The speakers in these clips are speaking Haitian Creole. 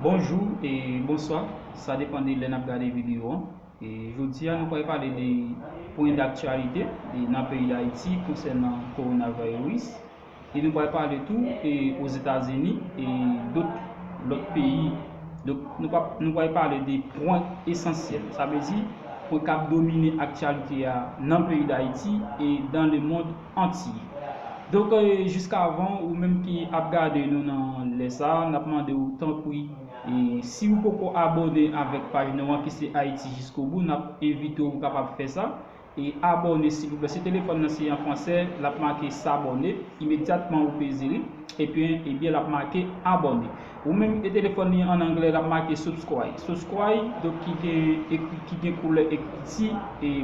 Bonjou e bonswa, sa depan de lè nap gade videyo an. Jodi a nou pral pale de pwen daktyalite nan peyi Dayiti konsènan Coronavirus e nou pral pale tou e Ozetazini e dot lòt peyi. Donk nou pap nou pral pale de pwen esansyèl. Sa vle di pwen kap domine aktyalite a nan peyi Dayiti e dan lemond. Antiy. Donk jiskavan ou menm ki ap gade nou nan lè sa a, n ap mande ou tanpri si ou poko abòne avèk paj nou an ki se Ayiti Jiskobou n ap envite w ou kapab fè sa e abòne silvouplè si telefòn nan se an fransè l ap make s'abonner imedyatman ou peze li epi ebyen l ap make abòne ou menm e telefòn li an anglè l ap make subscribe subscribe donk ki gen koulè ekriti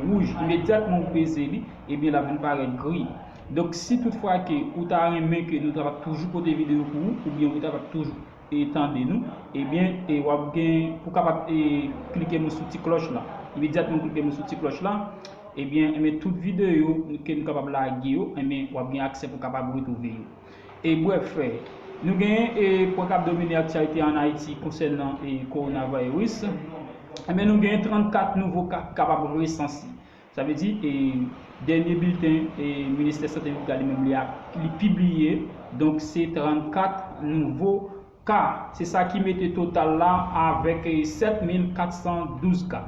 wouj imedyatman ou peze li Ebyen lap vin parèt gri. Donk si tout fwa ke ou ta renmen ke nou ta va toujou pote video pou ou oubyen ou ta va toujou e tande nou ebyen e wap gen pou kapab e klike mwen sou ti klòch la. Imedyatman ou klike mwen sou ti klòch la ebyen enben tout video ke nou kapab lage yo enben wap gen aksè pou kapab retwouve yo. E brèf nou gen e pwen kap domine aktyalite an Ayiti konsènan e Coronavirus enben nou gen 34 nouvo ka ki kapab resanse. Sa vle di, dènye bilten Ministè Sante Leta li menm li a li pibliye, donk se 34 nouvo ka. Se sa ki mete total la avèk 7412 ka.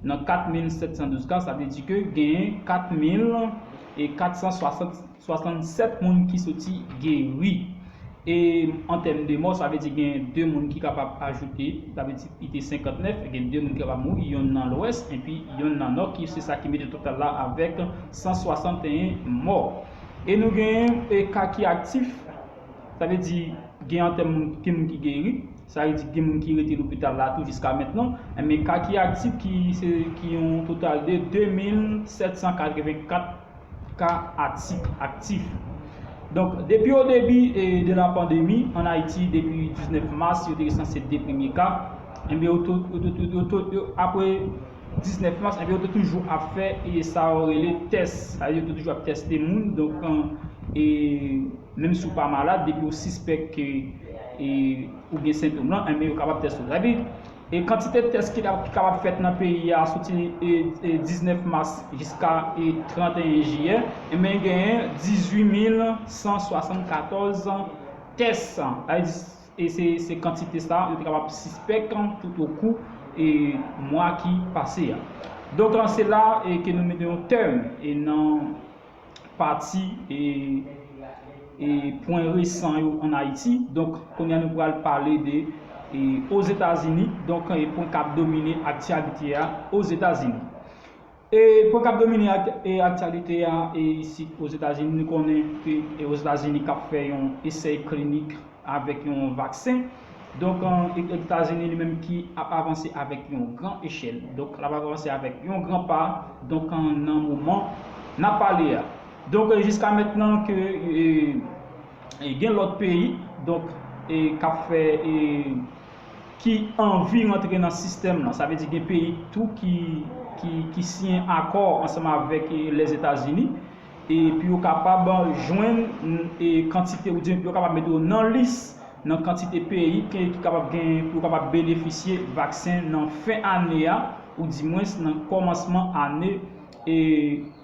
Nan 4712 ka, sa vle di ke genyen 4460. 67 moun ki soti geri. E an tèm de mò, sa vle di gen 2 moun ki kapab ajoute, sa vle di li te 59, gen 2 moun ki kapab mouri, yonn nan lwès enpi yonn nan nò ki se sa ki mete total la avèk 161 mò. E nou gen ka ki aktif, sa vle di gen an tèm moun gen moun ki geri, sa vle di gen moun ki rete lopital la tou jiska mentnan, enben ka ki aktif ki se ki yon total de 2784. ka atik aktif. Donk, depi o debi de la pandemi, an Ayiti, depi 19 mas, yo te resanse 2 premye ka, enben yo te, yo te, yo, apre 19 mas, enben yo te toujou ap fè e sa yo rele tès. Sa vle di yo te toujou ap tèste moun, donk an, e menm si w pa malad, depi w sispèk ke e ou gen sentom lan, enben yo kapab tèste w. Sa vle di. Kantite tès ki kapab fèt nan peyi a soti 19 mas jiska 31 jiyè, enben genyen 18174 tès, sa vle di se kantite sa yo te kapab sispèk toutokou mwa ki pase a. Donk se la ke nou mete yon tèm nan. pati e pwen resan yo an Ayiti. Donk, kounye a nou pral pale de Ozetazini, donk e pwen k ap domine aktyalite a Ozetazini. E pwen k ap domine aktyalite a isit Ozetazini, nou konnen ke Ozetazini k ap fè yon esèy klinik avèk yon vaksen donk etazini li menm ki ap avanse avèk yon gran echèl donk lap avanse avèk yon gran pa donk nan moman nap pale a donk jiska mentnan ke gen lòt peyi donk kap fè ki anvi rantre nan sistèm nan sa vle di gen peyi tou ki siyen akò ansanm avèk lèzetazini e pou yo kapab jwenn e kantite oubyen pou yo kapab mete yo nan lis nan kantite peyi ke ki kapab gen pou yo kapab benefisye vaksen nan fen ane a ou di mwens nan kòmansman ane e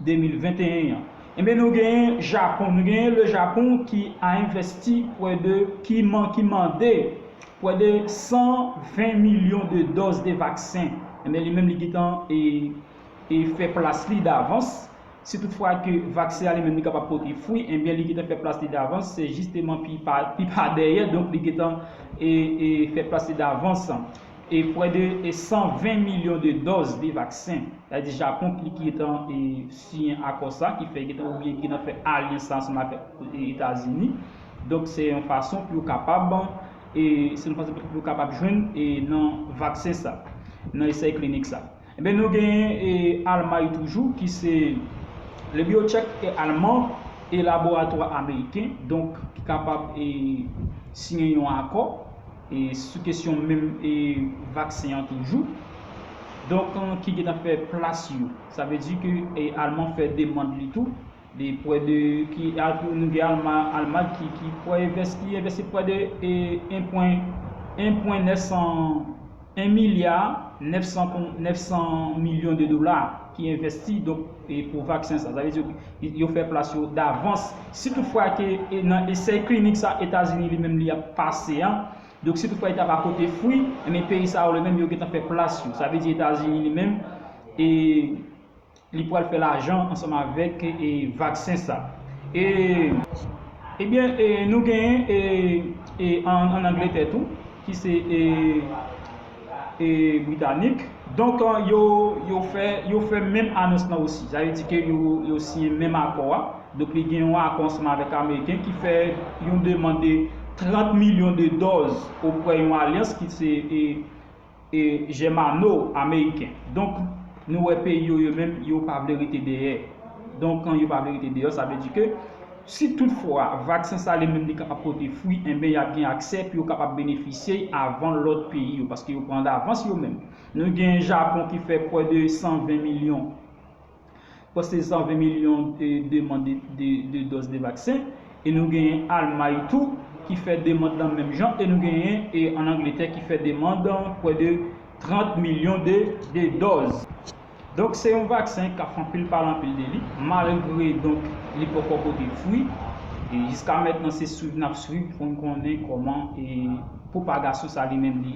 2021 an enben nou genyen Japon nou genyen le Japon ki a envèsti prè de ki man ki mande prè de 120 milyon de dòz de vaksen enben li menm li gentan e e fè plas li davans. Si tout fwa ke vaksen an li menm li kapab pote fwi, enbyen li gentan fè plas li davans, se jisteman pi pa pi pa dèyè, donk li gentan e e fè plas li davans. E prè de 120 milyon de dòz de vaksen, sa vle di Japon ki ki gentan e siyen akò sa, ki fè gentan oubyen ki gentan fè alyans sa ansanm avèk Etazini, donk se yon fason pou yo kapab e se yon fason pou yo kapab jwenn e nan vaksen sa, nan esèy klinik sa. Enben nou genyen Almay toujou ki se Le Biocheck est allemand e laboratwa ameriken donk ki kapab siyen yon akò sou kesyon menm vaksen an toujou donk ki gentan fè plas yo sa vle di ke alman fè demand li tou. Li pwè de ki alpou nou gen alma almad ki ki pwè evès ki evès li pwè de e 1 pwen 1 pwen 900 1 milya 900 kon 900 milyon de dola ki envèsti donk e pou vaksen sa sa vle di yo yo fè plas yo davans si tout fwa ke e nan esèy klinik sa etazini li menm li ap pase an donk si tout fwa li ta pa pote fwi enben peyi sa yo li menm yo gentan fè plas yo sa vle di etazini li menm e Li pwal fè lajan ansanm avèk e vaksen sa. E e byen e nou genyen e e an angletè tou ki se e e britanik donk yo yo fè yo fè menm anons lan osi sa vle di ke yo yo siyen menm akò a donk li gen yon akò ansanm avèk ameriken ki fè yon demand de 30 milyon de dòz opwè yon alyans ki se e E Germano ameriken. Donk nou wè peyi yo yo menm yo pa vle rete dèyè. Donk kan yo pa vle rete deyò sa vle di ke si tout fwa vaksen sa li menm li kapab pote fwi enben y ap gen aksè pou yo kapab benefisye y avan lòt peyi yo paske yo pran davans yo menm. Nou gen Japon ki fè pwè de 120 milyon. Pwès se 120 milyon demann de dòz de vaksen e nou genyen Almay tou ki fè demann lan menm jan e nou genyen an Angletè ki fè demann pwè de 30 milyon de dòz. Donk se yon vaksen k ap fè anpil pale anpil de li malgre donk li poko pote fwi e jiska mètnan se swiv n ap swiv pou n konnen kòman pwopagasyon sa li menm li.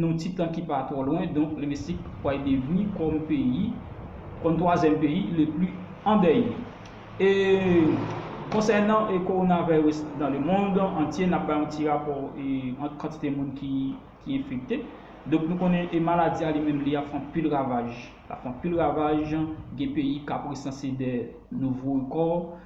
Nan ti tan ki pa twò lwen donk Lemesik pway devni kòm peyi kòm twazyèm peyi le pli andèye. E konsènan Coronavirus nan le mond antye nap bay yon ti rapò ant kantite moun ki enfekte. Donk nou konnen e maladi a li menm li ap fè anpil ravaj. Lap fè anpil ravaj gen peyi kap resanse dè nouvo rekò.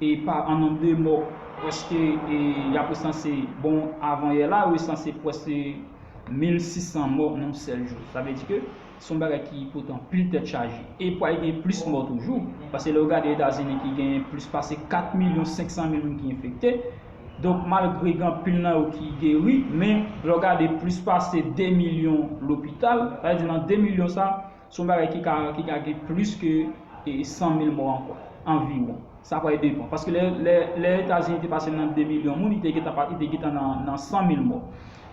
e pa an nonb de mò pwèske y ap resanse bon avan yè la yo resanse pwèske 1600 mò nan yon sèl jou sa vle di ke se yon bagay ki pote anpil tèt chaje e pwal gen plis mò toujou paske lè ou gade etazini ki gen plis pase 4 milyon 500 mil moun ki enfekte donk malgre gen anpil nan yo ki geri men lè ou gade plis pase 2 milyon lopital sa vle di nan 2 milyon sa Se yon bagay ki ka ki ka gen plis ke 100 mil mò ankò, anviwon. Sa pral depan. Paske lè lè lè Etazini te pase nan 2 milyon moun, li te gentan pa li te gentan nan nan 100 mil mò.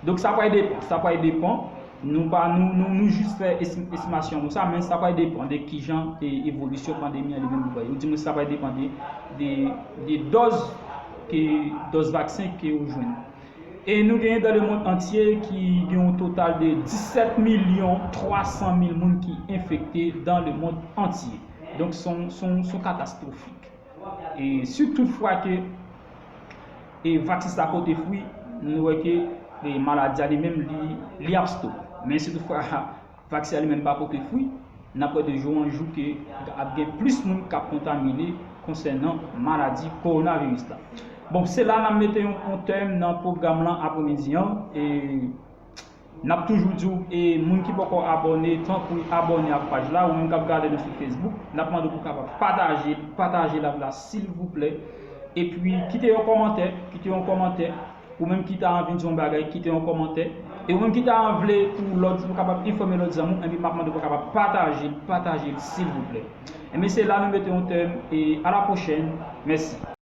Donk sa pral depan. Sa pral depan. Nou pa nou nou nou jis fè esti estimasyon nou sa, men sa pral depan de kijan e evolisyon pandemi an li menm li pral ye. Ou di mwen sa pral depan de de de dòz ke dòz vaksen ke yo jwenn. E nou genyen dan lemond antye ki gen yon total de 17 milyon 300 mil moun ki enfekte dan lemond antye. Donk son katastrofik. E si tout fwa ke e vaksin sa pote fwi, nou wè ke e maladi a li menm li ap stop. Men si tout fwa. Vaksen an li menm pa pote fwi, n ap wè de jou an jou ke ap gen plis moun k ap kontamine konsènan maladi kowonaviris la. Bon, se la n ap mete yon tèm nan pwogram lan apremidi an. N ap toujou di w e moun ki poko abòne, tanpri abòne ak paj la, ou menm k ap gade nou sou Facebook, n ap mande w pou w kapab pataje, pataje layv la silvouplè, epi kite yon kòmantè, kite yon kòmantè. Ou menm ki ta anvi di yon bagay kite yon kòmantè e ou menm ki ta vle pou lòt ou kapab enfòme lòt zanmi w enben map mande pou w kapab patajel patajel silvouplè enben se la nou mete yon tèm e a la pwochèn mèsi.